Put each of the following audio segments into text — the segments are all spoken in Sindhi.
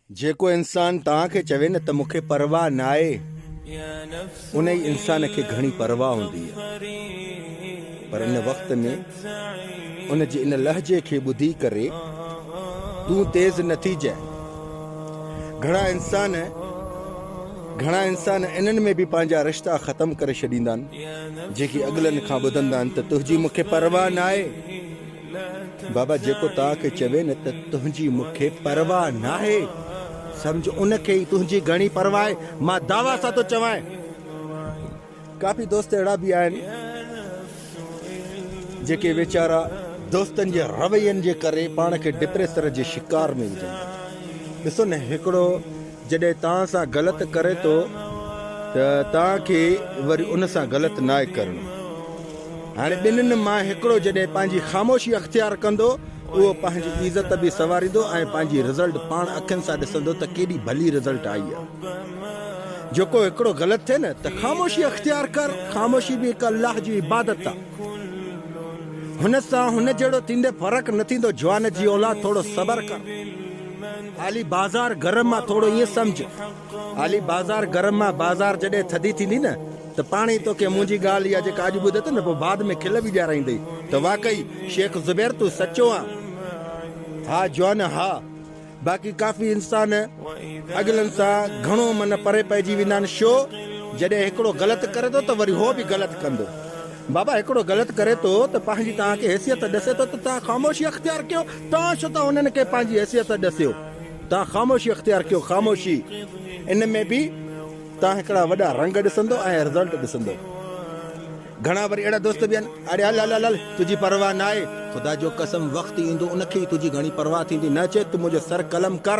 جيڪو انسان توهان کي چوي نه ته مون کي پرواهه ناهي، انهي انسان کي گهڻي پرواهه هوندي آهي. پر ان وقت ۾ ان جي ان لهجي کي ٻڌي ڪري تون تيز نه ٿيجانء. گهڻا انسان گهڻا انسان انهن ۾ به پنهنجا رشتا ختم ڪري ڇڏيندا آهن، جيڪي اڳلن کان ٻڌندا آهن ته تنهنجي مون کي پرواهه ناهي. بابا جيڪو توهان کي چوي نه ته تنهنجي مون کي پرواهه ناهي، سمجهه ان کي ئي تنهنجي گهڻي پرواهه آهي. مان دعويٰ سان ٿو چوانء. ڪافي دوست اهڙا به آهن، جيڪي ويچارا دوستن جي روين جي ڪري پاڻ کي ڊپريسر جي شڪار ۾ وجهن ٿا. ڏسو نه هڪڙو جڏهن توهان سان غلط ڪري ٿو ته توهان کي وري ان سان غلط ناهي ڪرڻو. هاڻي ٻنهن مان هڪڙو جڏهن پنهنجي خاموشي اختيار ڪندو اهو پنهنجي عزت به سنواريندو ۽ پنهنجي رزلٽ پاڻ اکين سان ڏسندو ته ڪيڏي ڀلي رزلٽ آئي آهي. جيڪو هڪڙو غلط ٿئي نه ته خاموشي اختيار ڪر، خاموشي به هڪ الله جي عبادت آهي. هن سان هن جهڙو ٿيندي فرق نه ٿيندو جوان جي اولاد ٿورو صبر ڪر. علي بازار گرم آ ٿورو ائين سمجهه. علي بازار گرم آ بازار جڏهن ٿڌي ٿيندي نه ته پاڻ ئي توکي منهنجي ڳالهه اها جيڪا اڄ ٻڌت نه پوء بعد ۾ کل به ڏيارائيندئي ته واقعي شيخ زبير تون سچو آن. ها جوان ها باقي ڪافي انسان اڳلن سان گهڻو من پري پئجي ويندا آهن شو جڏهن هڪڙو غلط ڪري ٿو ته وري هو به غلط ڪندو بابا هڪڙو غلط ڪري ٿو ته پنهنجي توهان کي حيثيت ڏسي ٿو ته توهان خاموشي اختيار ڪيو توهان ڇو ٿا انهن کي پنهنجي حيثيت ڏسيو؟ توهان خاموشي اختيار ڪيو، خاموشي. ان ۾ به توهان هڪڙا وڏا رنگ ڏسندو ۽ رزلٽ ڏسندو. گهڻا وري اهڙا دوست به آهن، اڙي هل هل هل، تنهنجي پرواهه ناهي. خدا جو قسم وقت ايندو ان کي ئي تنهنجي گهڻي پرواهه ٿيندي، نه چي ته منهنجو سر قلم ڪر.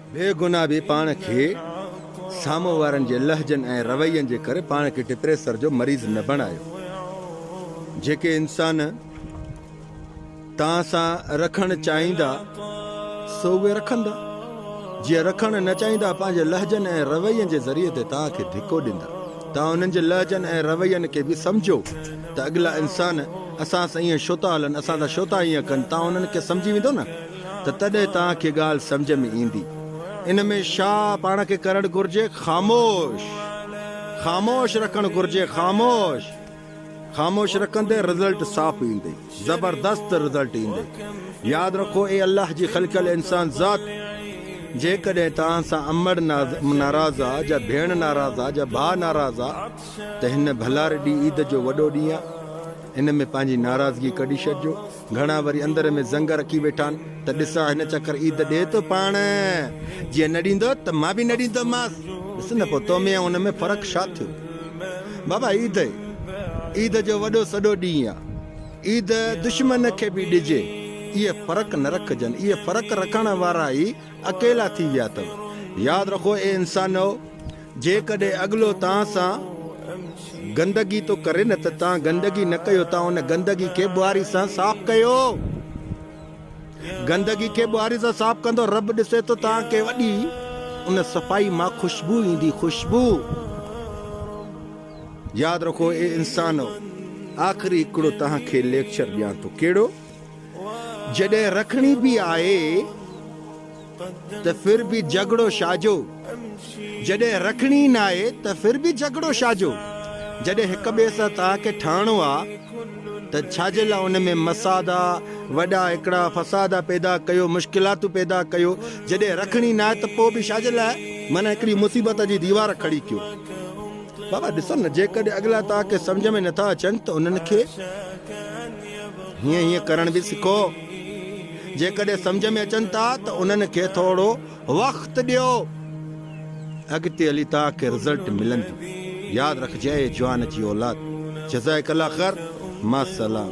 بي گناهه به پاڻ کي سامهون وارن جي لهجن ۽ روين جي ڪري پاڻ کي ڊپريسر جو مريض نه بڻايو. جيڪي انسان توهان سان رکڻ چاهيندا سو اهي رکندا. جي رکڻ نه چاهيندا پنهنجي لهجن ۽ روين جي ذريعي تي توهان کي ڌڪو ڏيندا. توهان انهن جي لهجن ۽ روين کي به سمجهو ته اڳلا انسان اسان سان ائين ڇو ٿا هلن، اسان سان ڇو ٿا ائين ڪن، توهان انهن کي سمجهي ويندو نه. ته تڏهن توهان کي ڳالهه سمجهه ۾ ايندي. ان ۾ ڇا پاڻ کي ڪرڻ گهرجي؟ خاموش. خاموش رکڻ گهرجي. خاموش. خاموش رکندي رزلٽ صاف ايندي. زبردست رزلٽ ايندي. ياد رکو اي الله جي خلقيل انسان ذات! جيڪڏهن توهان سان امڙ ناراض آ جا ڀيڻ ناراض آ جا ڀاء ناراض آ ته هن ڀلاري ڏينهن عيد جو وڏو ڏينهن آ ان ۾ پنهنجي ناراضگي ڪڍي ڇڏجو. گهڻا وري اندر ۾ زنگ رکي ويٺان ته ڏسان هن چڪر عيد ڏي ٿو پاڻ، جيئن نه ڏيندو ته مان به نه ڏيندومانس، ڏس نه پوء تو ۾ ۽ هن ۾ فرق ڇا ٿيو؟ بابا عيد ئي عيد جو وڏو سڏو ڏينهن آ، عيد دشمن کي به ڏجي، اهي فرق نه رکجن، اهي فرق رکڻ وارا ئي اڪيلا ٿي ويا اٿو، ياد رکو اي انسانؤ! جيڪڏهن اڳلو توهان سان گندگي ٿو ڪري نه ته توهان گندگي نه ڪيو توهان ان گندگي کي ٻهاري سان صاف ڪيو گندگي کي ٻهاري سان صاف ڪندو رب ڏسي ٿو توهان کي وڏي ان صفائي مان خوشبو ايندي خوشبو ياد رکو اي انسانو آخري هڪڙو توهان کي ليڪچر ڏيان ٿو ڪهڙو جڏهن رکڻي به آهي ته ڦر ڀي جهڳڙو شاجو، جڏهن رکڻي ئي ناهي ته ڦر ڀي جهڳڙو شاجو، جڏهن هڪ ٻئي سان توهان کي ٺهڻو آ ته ڇاجي لا ان ۾ مسادا، وڏا هڪڙا فسادا پيدا ڪيو، مشڪلاتون پيدا ڪيو، جڏهن رکڻي ناهي ته پوء ڀي شاجي لا معنيٰ هڪڙي مصيبت جي ديوار کڙي ڪيو. بابا ڏسو نه جيڪڏهن اڳلا توهان کي سمجهه ۾ نٿا اچن ته انهن کي هيئن هيئن ڪرڻ ڀي سکو. جيڪڏهن سمجهه ۾ اچن ٿا ته انهن کي ٿورو وقت ڏيو اڳتي هلي توهان کي رزلٽ ملندو ياد رکجي اي جوان جي اولاد جزائڪ الله خير مع السلام